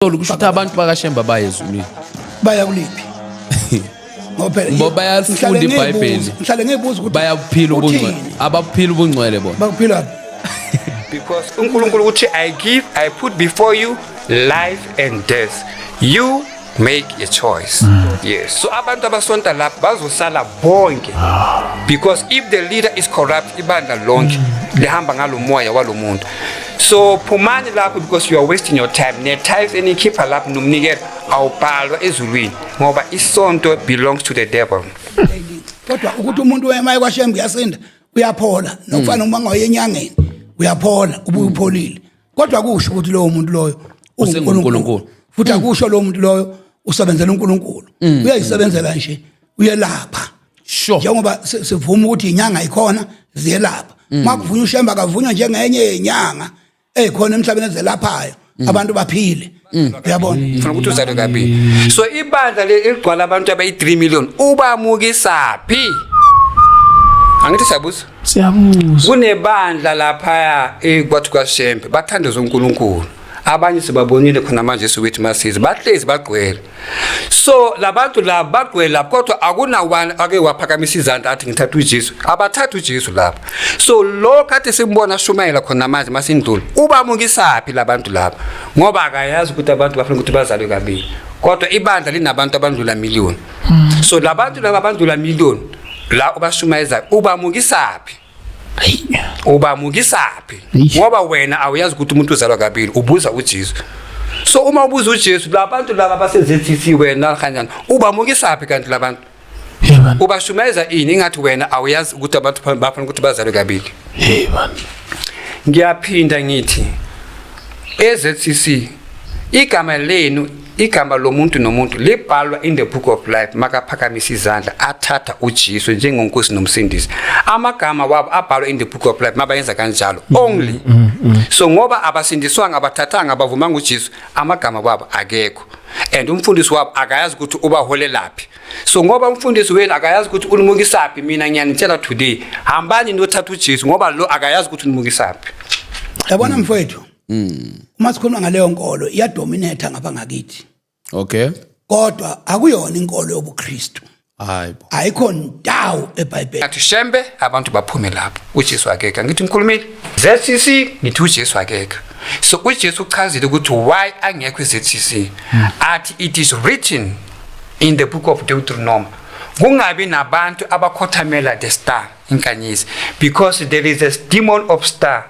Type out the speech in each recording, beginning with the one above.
Tolu kusho ukuthi abantu bakashemba baye ezulwini baya kuliphi ngoba phela- Ngoba bayalifunda ngihlale ngiyibuza- iBhayibheli. ngihlale ngiyibuza ukuthi bayabuphila ubungcwele uthini? ababuphila ubungcwele bona bakuphila Because uNkulunkulu uthi I give I put before you life and death. You make a choice. Yes. So abantu abasonta lapha bazosala bonke. Because if the leader is corrupt ibandla lonke lihamba ngalomoya walomuntu. so phumani lapho because you are wasting your time ne-tiles enikhipha lapho nomnikelo awubhalwa ezulwini ngoba isonto belongs to the devil kodwa ukuthi umuntu wema ekwashembe uyasinda uyaphola nokufana uma ngaye enyangeni uyaphola ubuye upholile kodwa kusho ukuthi lowo muntu loyo uNkulunkulu futhi akusho lowo muntu loyo usebenzela uNkulunkulu uyayisebenzela nje uyelapha sure njengoba si- sivuma ukuthi inyanga ikhona ziyelapha Mm. uma kuvunywa ushemba akavunywa njengenye yenyanga eyikhona emhlabeni ezelaphayo Mm. abantu baphile uyabona ngifuna ukuthi uzalwe kabili so ibandla le- eligcwala abantu abayi-3 million ubamukisaphi angithi siyabuza siyabuza kunebandla laphaya eh, kwathi kwashembe bathandaza unkulunkulu abanye sibabonile khona manje siwethi masizi bahlezi bagcwele so labantu la bagqwela kodwa akuna one ake waphakamisa izandla athi ngithatha uJesu abathatha uJesu lapha so lo kade simbona shumayela khona manje masindlula ubamungisaphi labantu laba ngoba akayazi ukuthi abantu bafuna ukuthi bazalwe kabili kodwa ibandla linabantu abandlula million hmm. so labantu laba abandlula million la ubashumayeza ubamukisaphi ubamukisaphi ngoba wena awuyazi ukuthi umuntu uzalwa kabili ubuza uJesu so uma ubuza uJesu labantu laba baseZCC wena kanjani ubamukisaphi kanti labantu ubashumayeza ini ingathi wena awuyazi ukuthi abantu bafuna ukuthi bazalwe kabili ngiyaphinda ngithi eZCC igama lenu igama lomuntu nomuntu libhalwa in the book of life makaphakamisa izandla athatha uJesu njengonkosi nomsindisi amagama wabo abhalwa in the book of life mabayenza kanjalo mm, only mm, mm, so ngoba abasindiswanga abathathanga abavumanga uJesu amagama wabo akekho and umfundisi wabo akayazi ukuthi ubaholelaphi so ngoba umfundisi wenu akayazi ukuthi unimukisaphi mina ngiyanitshela today hambani nothatha uJesu ngoba lo akayazi ukuthi unimukisaphi yabona mfowethu Mm. Uma sikhuluma ngaleyo nkolo iyadominate ngapha ngakithi. Okay. Kodwa akuyona inkolo yobuKristu. Hayibo. Ayikho ndawo eBhayibheli. Athi shembe abantu baphume lapho. UJesu akekho. Ngithi ngikhulumile. ZCC ngithi uJesu akekho. So uJesu uchazile ukuthi why angekho iZCC. Hmm. Athi it is written in the book of Deuteronomy. Kungabi nabantu abakhothamela the star inkanyezi because there is a demon of star.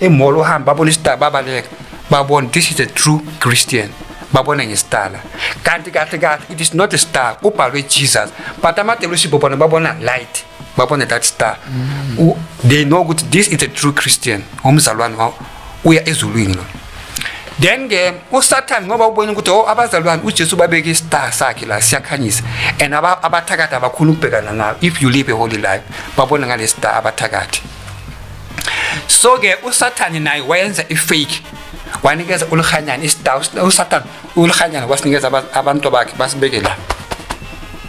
Imolo uhamba babona isitala babaleka babona this is a true Christian babona ngesitala kanti kahle kahle it is not a star ubhalwe Jesus but amadelusi bobona babona light babona that star mm. they know ukuthi this is a true Christian umzalwane wawo uya ezulwini lo then ke usathane ngoba ubona ukuthi oh abazalwane uJesu babeke istar sakhe la siyakhanyisa and abathakathi abakhulu ukubhekana nayo if you live a holy life babona ngale star abathakathi so ke usathane naye wayenza ifake wanikeza ulihanyana isitawu usathane ulihanyana wasinikeza abantu bakhe basibeke la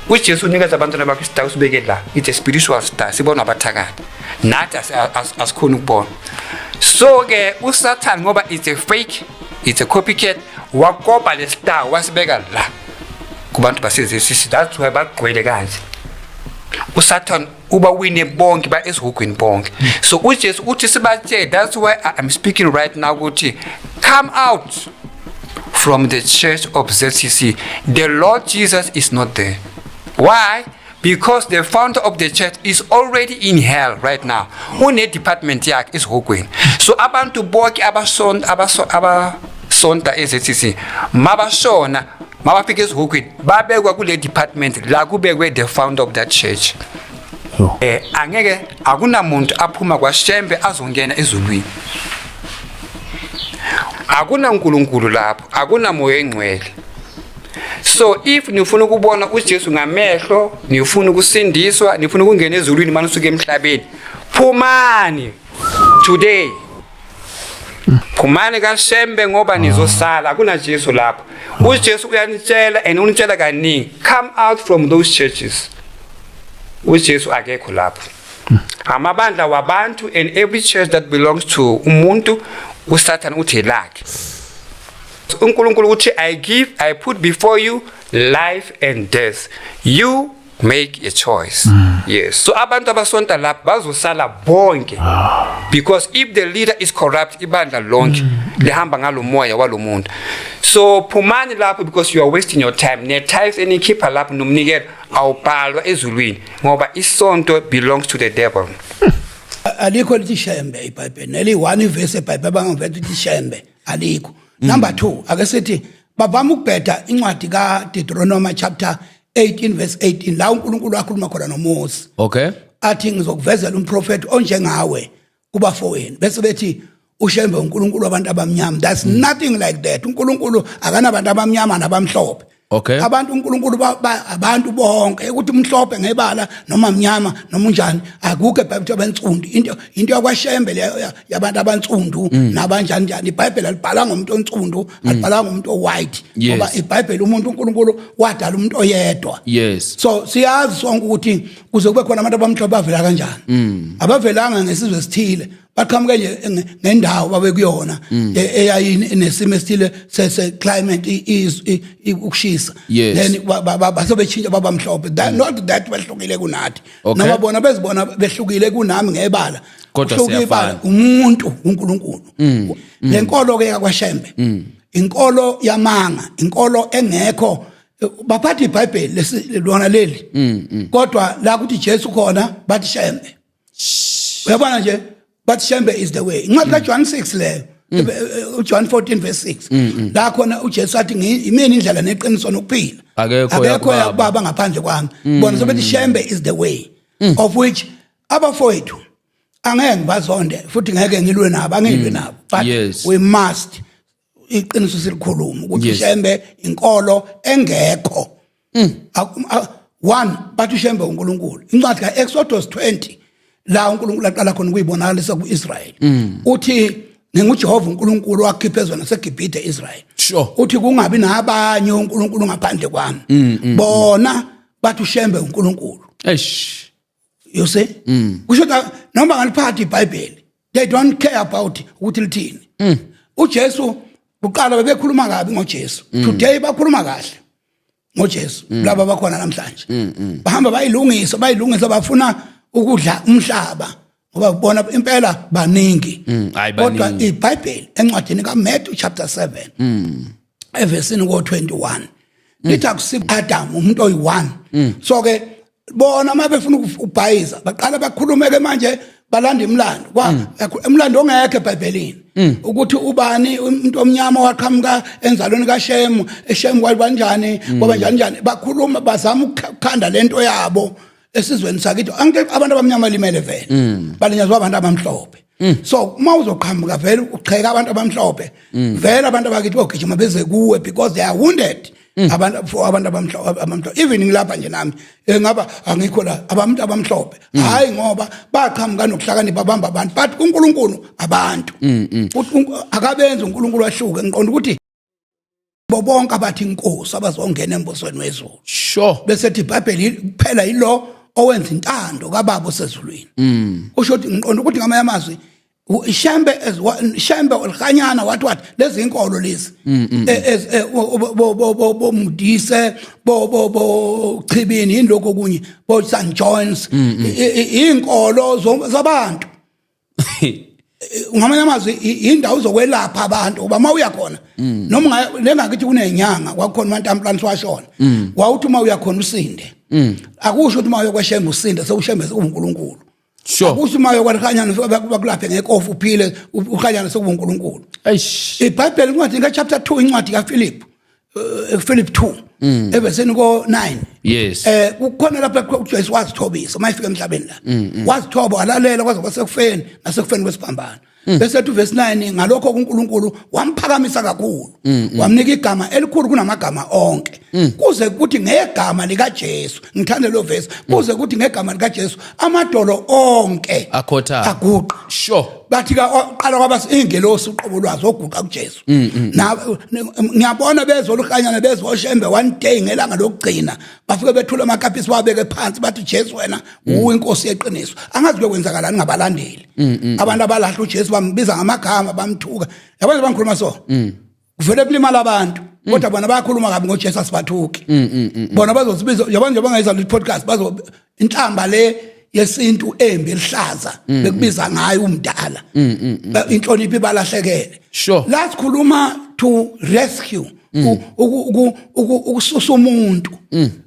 ujesu unikeza abantwana bakhe isitawu sibeke la it's a spiritual star sibona abathakathi nathi asikhoni ukubona so ke usathane ngoba it's a fake it's a copycat wakopa le star wasibeka la kubantu basezesisi that's why bagqwele kanje usathane uba wine bonke ba esihugwini bonke so uJesu uthi sibatshele that's why I'm speaking right now ukuthi come out from the church of ZCC the Lord Jesus is not there why because the founder of the church is already in hell right now une department yakhe esihugwini so abantu bonke abasonta abasonta eZCC mabashona mabafika ezihukwini babekwa kule department la kubekwe the founder of that church Yo. eh angeke akunamuntu aphuma kwaShembe azongena ezulwini akunankulunkulu lapho akunamoya engcwele so if nifuna ukubona uJesu ngamehlo nifuna ukusindiswa nifuna ukungena ezulwini manisuke emhlabeni phumani today phumani kashembe ngoba nizosala kunajesu lapho ujesu uyanitshela and unitshela kaningi come out from those churches ujesu akekho lapho amabandla wabantu and every church that belongs to umuntu usathane uthi lakhe unkulunkulu uthi i give i put before you life and death you make a choice mm. yes so abantu abasonta lapha bazosala bonke ah. because if the leader is corrupt ibandla lonke mm. lihamba ngalomoya walomuntu so phumani lapho because you are wasting your time ne tithes enikhipha lapho nomnikelo awubhalwa ezulwini ngoba isonto belongs to the devil hmm. alikho lithi shembe ibhayibheli neli one verse ebhayibheli abangavela ukuthi shembe alikho number 2 ake sithi bavama ukubheda incwadi kaDeuteronomy chapter 18 verse 18 la uNkulunkulu akhuluma khona noMose okay athi ngizokuvezela umprofeti onjengawe kubafowenu bese bethi ushembe uNkulunkulu wabantu abamnyama that's mm. nothing like that uNkulunkulu akanabantu abamnyama nabamhlophe okay abantu uNkulunkulu abantu bonke ukuthi umhlophe ngebala noma mnyama noma unjani akukho eBhayibhelini abensundu into into yakwashembe leyo yabantu abantsundu mm. nabanjani njani ibhayibheli alibhala ngomuntu ontsundu mm. alibhala ngomuntu owhite ngoba ibhayibheli umuntu uNkulunkulu wadala umuntu oyedwa yes so siyazi sonke ukuthi kuze kube khona abantu abamhlophe bavela kanjani mm. abavelanga ngesizwe esithile baqhamuke nje ngendawo babe kuyona e, eyayini nesimo esithile sese climate ukushisa then basobe chinja babamhlophe not that bahlukile kunathi Okay. noma bona bezibona behlukile kunami ngebala Kodwa Uhluke siyafana. Mm. ibala, umuntu uNkulunkulu le nkolo ke yakwashembe inkolo yamanga inkolo engekho eh, baphatha iBhayibheli lesi- lona leli Mm, kodwa la kuthi Jesu khona bathi shembe uyabona nje but shembe is the way incwadi ka John 6 leyo uJohn 14 verse 6 la khona uJesu athi ngimini indlela neqiniso nokuphila akekho yakubaba ngaphandle kwami bona sobethi shembe is the way of which abafowethu angeke ngibazonde futhi ngeke ngilwe nabo angilwe nabo but yes. we must iqiniso silikhuluma ukuthi Yes. ushembe inkolo engekho Mm. Aku- a- one bathi ushembe unkulunkulu incwadi ka-exodus 20 la unkulunkulu aqala khona ukuyibonakalisa ku-israyeli Mm. uthi ngingujehova unkulunkulu wakhipha ezweni nasegibhide israyeli Sure. Mm, uthi kungabi nabanye unkulunkulu ngaphandle kwami bona bathi ushembe unkulunkulu Eish. you see mm. kusho ukuthi noma ngaliphatha ibhayibheli they don't care about ukuthi lithini mm. ujesu kuqala bebekhuluma kabi ngojesu mm. today bakhuluma kahle ngojesu mm. laba bakhona namhlanje mm, mm. bahamba bayilungisa bayilungisa bafuna ukudla umhlaba ngoba ubona impela baningi mm, kodwa ibhayibheli encwadini kamatthew chapter 7 mm. evesini ko 21 mm. lithi akusiko Adam umuntu oyi1 mm. so ke bona uma befuna ukubhayiza baqala bakhulume ke manje balanda imlando kwa mm. umlando ongekho eBhayibhelini mm. ukuthi ubani umuntu omnyama waqhamuka enzalweni kaShemu eShemu kwalibanjani mm. kwaba njani njani bakhuluma bazama ukukhanda lento yabo esizweni sakithi angithi abantu abamnyama limele vele mm. balinyazwa abantu abamhlophe mm. so uma uzoqhamuka vele ucheka abantu abamhlophe mm. vele abantu abakithi bogijima beze kuwe because they are wounded abantu for abantu abamhlophe abamhlophe even ngilapha nje nami engaba angikho la abantu abamhlophe hayi ngoba baqhamuka nokuhlakanipha babamba abantu but uNkulunkulu abantu akabenzi uNkulunkulu ahluke ngiqonda ukuthi bobonke abathi inkosi abazongena embusweni wezulu sure bese thi ibhayibheli kuphela yilo owenza intando kababa osezulwini mm. usho ukuthi ngiqonda ukuthi ngamanye amazwi shembe shembe olhanyana wathi wathi lezi inkolo lezi mm, mm, e, e, e, bomudise bochibini yini lokho kunye bo St John's inkolo zabantu ngamanye amazwi indawo uzokwelapha abantu uba uma uya khona mm. noma lengakithi kunenyanga kwakukhona umantampulanisi washona mm. wawuthi uma uya khona usinde mm. akusho ukuthi uma uyokweshembe usinde sewushembeze unkulunkulu sure ukuthi uma yokwalikhanyana bakulaphe ngekofu uphile ukhanyana sekubunkulunkulu ibhayibheli incwadi ngechapter 2 incwadi kaphilip eh, ephilip 2 mm. eveseni ko-9 yes eh kukhona lapho uJesu wazithobisa uma efika emhlabeni la mm, mm. wazithoba walalela kwaze kwasekufeni nasekufeni kwesiphambano Mm. bese ethi verse 9 ngalokho kuNkulunkulu wamphakamisa kakhulu mm, mm. wamnika igama elikhulu kunamagama onke kuze kuthi ngegama lika Jesu ngithanda lo verse kuze kuthi ngegama lika Jesu amadolo onke akhotha aguqa sure bathi ka qala kwabas ingelosi uqobo lwazo oguqa kuJesu mm, mm, mm. ngiyabona bezoluhanyana bezoshembe one day ngelanga lokugcina bafike bethula amakapisi babeke phansi bathi jesu wena uwe inkosi yeqiniso angazi kuyokwenzakalani ngabalandeli abantu abalahla ujesu bambiza ngamagama bamthuka yabona bangikhuluma so kuvele kulimala abantu Mm. kodwa bona bayakhuluma kabi ngojesu asibathuki mm, mm, bona bazosibiza yabona nje bangayizala i-podcast bazo inhlamba le yesintu embi elihlaza mm, bekubiza mm. ngayo umdala mm, inhlonipho ibalahlekele sure la sikhuluma to rescue ukususa umuntu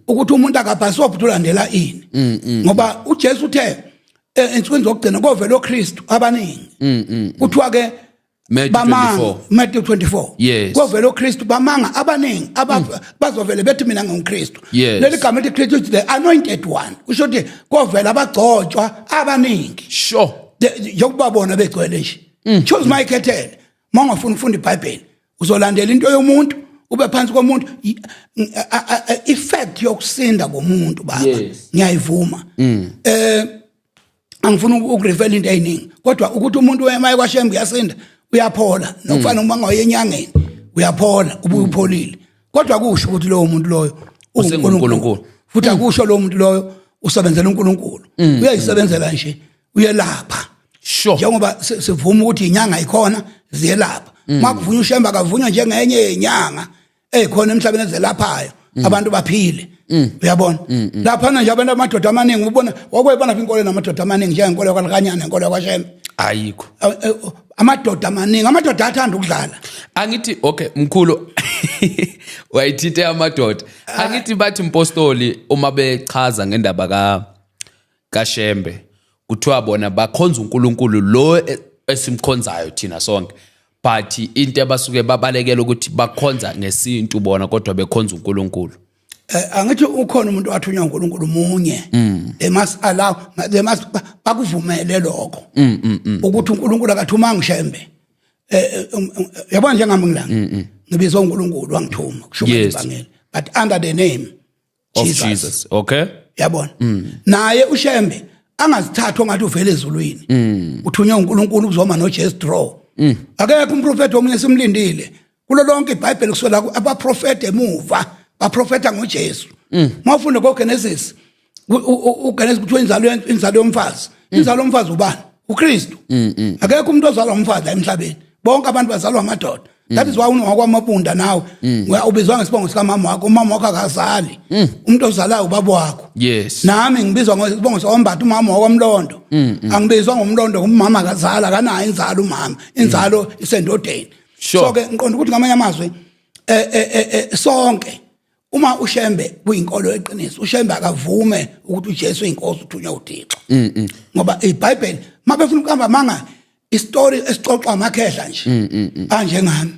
ukuthi umuntu akabhaswa ukuthi ulandela ini ngoba uJesu uthe e, ensukwini zokugcina kovela oKristu abaningi kuthiwa ke Matthew bamanga 24. Matthew 24 Yes. kovela uKristu bamanga abaningi aba bazovele bethi mina ngingukristu Yes. leli gama elithi Kristu is the anointed one kusho ukuthi kovela abagcotshwa abaningi sure The- yokuba bona begcwele nje choose my kettle mongafuna ufunda iBhayibheli uzolandela into yomuntu ube phansi komuntu I- a- a- a- effect yokusinda komuntu baba Yes. ngiyayivuma eh angifuni ukurevela into eyiningi kodwa ukuthi umuntu wemaye kwashembe uyasinda uyaphola nokufana uma ngoye enyangeni uyaphola ubuye upholile kodwa kusho ukuthi lowo muntu loyo uNkulunkulu futhi mm. akusho lowo muntu loyo usebenzela uNkulunkulu mm. uyayisebenzela nje uyelapha sure njengoba sivuma ukuthi inyanga ikhona ziyelapha mm. makuvunywa ushemba akavunywa njengenye yenyanga eh khona emhlabeni ezelaphayo mm. abantu baphile mm. uyabona mm, lapha nje abantu amadoda amaningi ubona wakwebona inkolo namadoda amaningi njengenkolo yakwalikanyana nenkolo yakwashembe ayikho eh, amadoda amaningi amadoda athanda ukudlala angithi okay mkhulu wayithinte amadoda ah. angithi bathi mpostoli uma bechaza ngendaba ka kaShembe kuthiwa bona bakhonza uNkulunkulu lo e, esimkhonzayo thina sonke but into abasuke babalekela ukuthi bakhonza ngesintu bona kodwa bekhonza uNkulunkulu eh, angithi ukhona umuntu athunywa uNkulunkulu munye mm. they must allow they must bakuvumele lokho mm, mm, ukuthi uNkulunkulu akathuma ngishembe eh, eh, um, um, yabona njengami ngilanga ngibizwa uNkulunkulu wangithuma kusho ukuthi bangela but under the name of Jesus. Jesus okay yabona naye ushembe angazithathwa ngathi uvela ezulwini uthunywe uNkulunkulu ukuzoma noJesu draw akekho umprofeti omunye simlindile kulo lonke iBhayibheli kusola ku- abaprofeti emuva baprofeta ngoJesu mawufunda koGenesis u- u- u- uGenesis kuthiwa inzalo yen- inzalo yomfazi inzalo yomfazi ubani uKristu akekho umuntu ozalwa umfazi la emhlabeni bonke abantu bazalwa amadoda that is why unowakwamabunda nawe Uya- ubizwa ngesibongo sikamama wakho umama wakho akazali umuntu ozalayo ubaba wakho yes nami ngibizwa ngesibongo sombati umama wakwamlondo angibizwa ngomlondo umama akazali akanayo inzalo umama inzalo isendodeni Sure. so-ke ngiqonda ukuthi ngamanye amazwi eh, eh, eh, eh, sonke uma ushembe kuyinkolo eqiniso ushembe akavume ukuthi uJesu inkosi uthunywa uThixo mm, mm. ngoba iBhayibheli mabefuna ukuhamba manga istory esixoxa amakhehla nje mm, anje ngami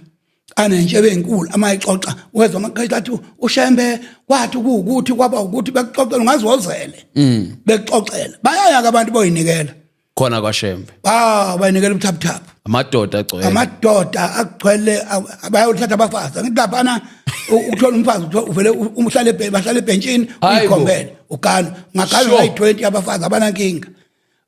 anenje benkulu amayixoxa wezwa amakhehla athi ushembe kwathi ukuthi kwaba ukuthi bekuxoxela ungazozele bekuxoxela bayayaka abantu boyinikela khona kwaShembe ah bayinikela ubuthaphuthaphu amadoda agcwele amadoda agcwele bayothatha abafazi ngithi laphana ukuthola umfazi uvele umhlale ebhentshini bahlale ebhentshini uyikhombele ugalo ngagalo ngayi-20 abafazi abanankinga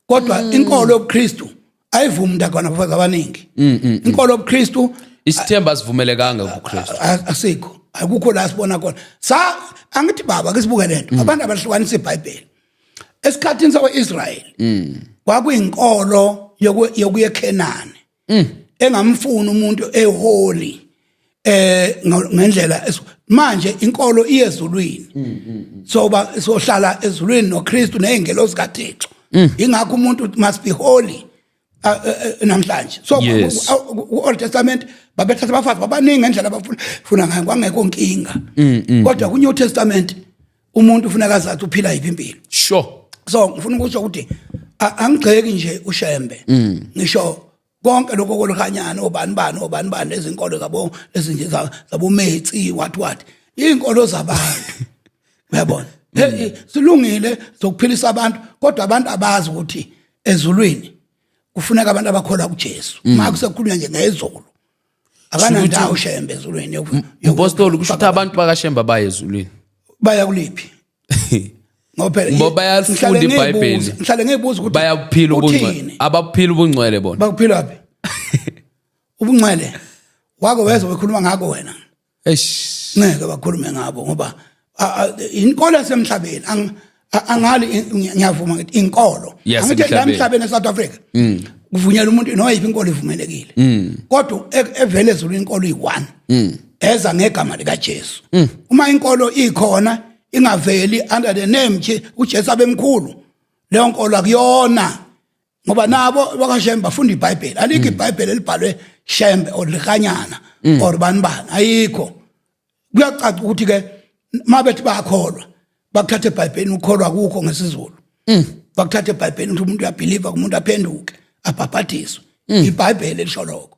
kodwa mm. inkolo yobuKristu ayivumi ndagwana abafazi abaningi mm, mm, inkolo yobuKristu isithemba sivumelekanga kuKristu asikho akukho la sibona khona sa angithi baba ke sibuke lento abantu abahlukanisa iBhayibheli esikhathini sakwa-israyeli mm. kwakuyinkolo yokuya ekhenani mm. engamfuni umuntu eholi eh ngendlela manje inkolo iyezulwini mm, so ba sohlala ezulwini noKristu nezingelosi kaThixo ingakho umuntu must be holy Ah, eh, eh, namhlanje so yes. ku-old testament babethatha abafazi babaningi ngendlela abafuna ngayo kwangekho nkinga mm, mm. kodwa ku-new testament umuntu ufuneka azathi uphila yiphi impilo sure so ngifuna ukusho ukuthi angigxeki nje ushembe mm. ngisho konke lokho kolukanyana obani bani obani bani lezinkolo zabo ezinje zabometsi what what izinkolo zabantu uyabona hey silungile sokuphilisa abantu kodwa abantu abazi ukuthi ezulwini kufuneka abantu abakholwa kuJesu mm. maku sekukhulunywa nje ngezulu abanandawo shembe ezulwini impostoli kusho ukuthi abantu bakashemba baye ezulwini baya kuliphi ngoba ngoba bayalifunda iBhayibheli ngihlale ngibuza ukuthi bayakuphila ubungcwele abakuphila ubungcwele bona bakuphila phi ubungcwele wako wezwe wekhuluma ngako wena eish ngeke bakhulume ngabo ngoba inkolo yasemhlabeni angali ngiyavuma ngithi inkolo angithi la emhlabeni eSouth Africa mm. kuvunyelwa umuntu noyiphi inkolo ivumelekile mm. kodwa e-, evele ezulu inkolo iyi-one mm. eza ngegama likaJesu uma inkolo ikhona ingaveli under the name nje uJesu abemkhulu leyo nkolo akuyona ngoba nabo bakashembe bafunda ibhayibheli alikho mm. ibhayibheli elibhalwe shembe or likanyana mm. or bani bani ayikho kuyacaca ukuthi ke uma bethi bayakholwa bakuthatha ebhayibhelini ukholwa kukho ngesizulu mm. bakuthatha ebhayibhelini ukuthi umuntu uyabhiliva kumuntu aphenduke abhabhadiswe ibhayibheli elisho lokho